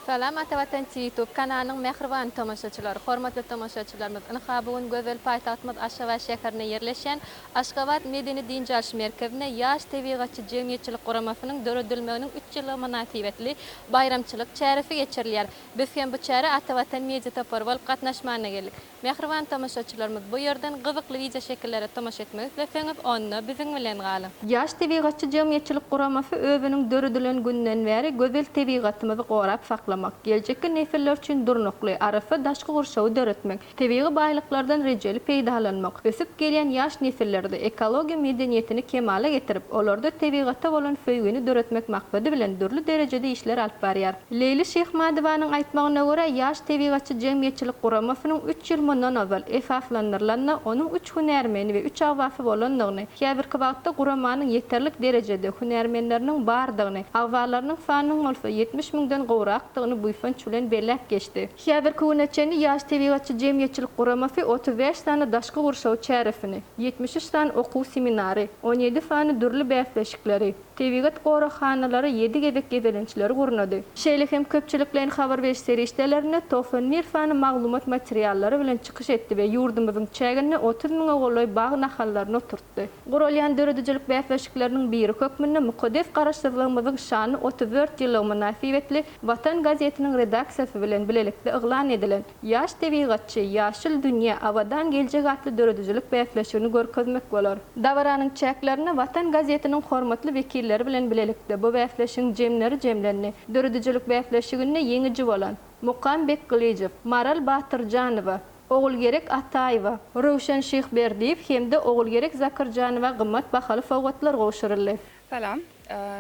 Salam Ata Watan Youtube kanalynyň mähriban tomaşaçylary! Hormatly tomaşaçylarymyz, ynha bu gün gözel paýtagtymyz Aşgabat şäherinde ýerleşýän Aşgabat medeni-dynç alyş merkezinde Ýaş tebigatçy jemgyýetçilik guramasynyň döredilmeginiň üç ýyllygy mynasybetli baýramçylyk çäresi geçirilýär. Biz hem bu çärä Ata Watan media topary bolup gatnaşmana geldik. Mähriban tomaşaçylarymyz bu ýerden gyzykly wideo şekillere tomaşa etmek isleseňiz onda biziň bilen galyň. Ýaş tebigatçy jemgyýetçilik guramasy özüniň döredilen günden bäri gözel tebigatymyzy gorap saklamak, geljekki nesiller üçin durnukly, arassa daşky gurşawy döretmek, tebigy baýlyklardan rejeli peýdalanmak, ösüp gelýän ýaş nesillerde ekologiýa medeniýetini kemala getirip, olarda tebigata bolan söýgini döretmek maksady bilen dürli derejede işler alyp barýar. Leýli Şyhmadowanyň aýtmagyna görä, Ýaş tebigatçy jemgyýetçilik guramasynyň üç ýyl mundan ozal esaslandyrylanyna, onuň üç hünärmeni we üç agzasy bolandygyny, häzirki wagtda guramanyň ýeterlik derejede hünärmenleriniň bardygyny, agzalarynyň sanynyň bolsa ýetmiş müňden gowrakdygyny buýsanç bilen belläp geçdi. Häzirki güne çenli Ýaş tebigatçy jemgyýetçilik guramasy otuz bäş sany daşky gurşaw çäresini, ýetmiş üç sany okuw-seminary, on ýedi sany dürli bäsleşikleri, Tebigat goraghanalary ýedi gezek gezelençleri gurnady. Şeýle hem köpçülikleýin habar beriş serişdelerinde togsan bir sany maglumat materiallary bilen çykyş etdi we ýurdumyzyň çäginde otuz müňe golaý bag nahallaryny oturtdy. Guralýan döredijilik bäsleşikleriniň biri hökmünde mukaddes Garaşsyzlygymyzyň şanly otuz dört ýyllygy mynasybetli Watan gazetiniň redaksiýasy bilen bilelikde yglan edilen, Ýaş tebigatçy, ýaşyl dünýä, abadan geljek atly döredijilik bäsleşigini görkezmek bolar. Dabaranyň çäklerinde Watan gazetiniň hormatly wekilleri bilen bilelikde bu bäsleşigiň jemleri jemlendi. Döredijilik bäsleşiginde ýeňiji bolan Mukam Bekgylyjow, Maral Batyrjanowa, Ogulgerek Ataýewa, Röwşen Şyhberdiýew hem-de Ogulgerek Zakyrjanowa gymmat bahaly sowgatlar gowşuryldy. Salam.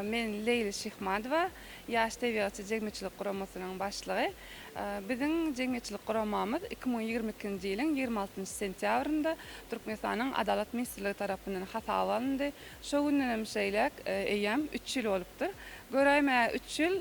Men Leýli Şyhmadowa, Ýaş tebigatçy jemgyýetçilik guramasynyň başlygy. Biziň jemgyýetçilik guramamyz iki müň ýigrimi ikinji ýylyň ýigrimi altynjy sentýabrynda Türkmenistanyň Adalat ministrligi tarapyndan hasaba alyndy. Şo gündenem şeýläk, eýýäm üç ýyl bolupdyr. Göräýmäge, üç ýyl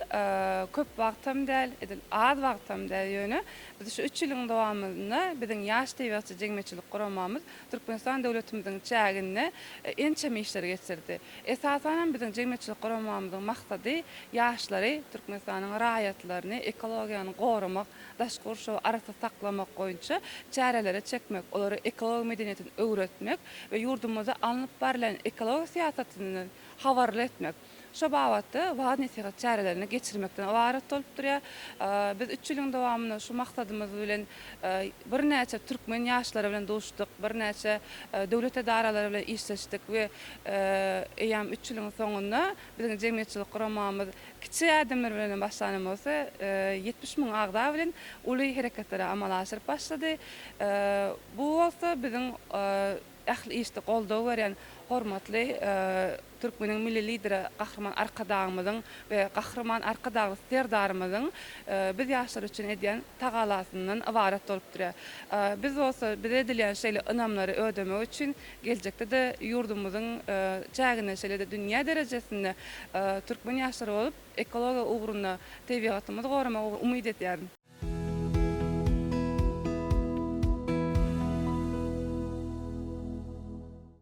köp wagtam däl, edil az wagtam däl, ýöne biz şu üç ýylyň dowamynda biziň Ýaş tebigatçy jemgyýetçilik guramamyz Türkmenistan döwletimiziň çäginde ençeme işleri geçirdi. Esasan hem biziň jemgyýetçilik guramamyzyň maksady ýaşlary Türkmenistanyň raýatlaryny ekologiýany goramak, daşky gurşawy arassa saklamak boýunça çärelere çekmek, olara ekologiýa medeniýetini öwretmek we ýurdumyzda alnyp barlan ekologiýa syýasatyndan habarly etmek. Şo babatda waaz-nesihat çärelerini geçirmekden ybarat bolup durýar. Biz üç ýylyň dowamynda şu maksadymyz bilen birnäçe türkmen ýaşlary bilen duşduk, birnäçe döwlet edaralary bilen işleşdik we eýýäm üç ýylyň soňunda biziň jemgyýetçilik guramamyz kiçi ädimler bilen hem başlanam bolsa, ýetmiş müň agza bilen uly hereketleri amala aşyryp başlady. Bu bolsa biziň ähli işde goldaw berýän hormatly Türkmeniň Milli Lideri Gahryman Arkadagymyzyň we Gahryman Arkadagly Serdarymyzyň biz ýaşlar üçin edýän tagalasyndan ybarat bolupdyr. Biz bolsa bize edilýän şeýle ynamlary ödemek üçin geljekde-de ýurdumyzyň çäginde şeýle-de dünýä derejesinde türkmen ýaşlary bolup ekologiýa ugrunda tebigatymyzy goramak ugrunda umyt edýärin.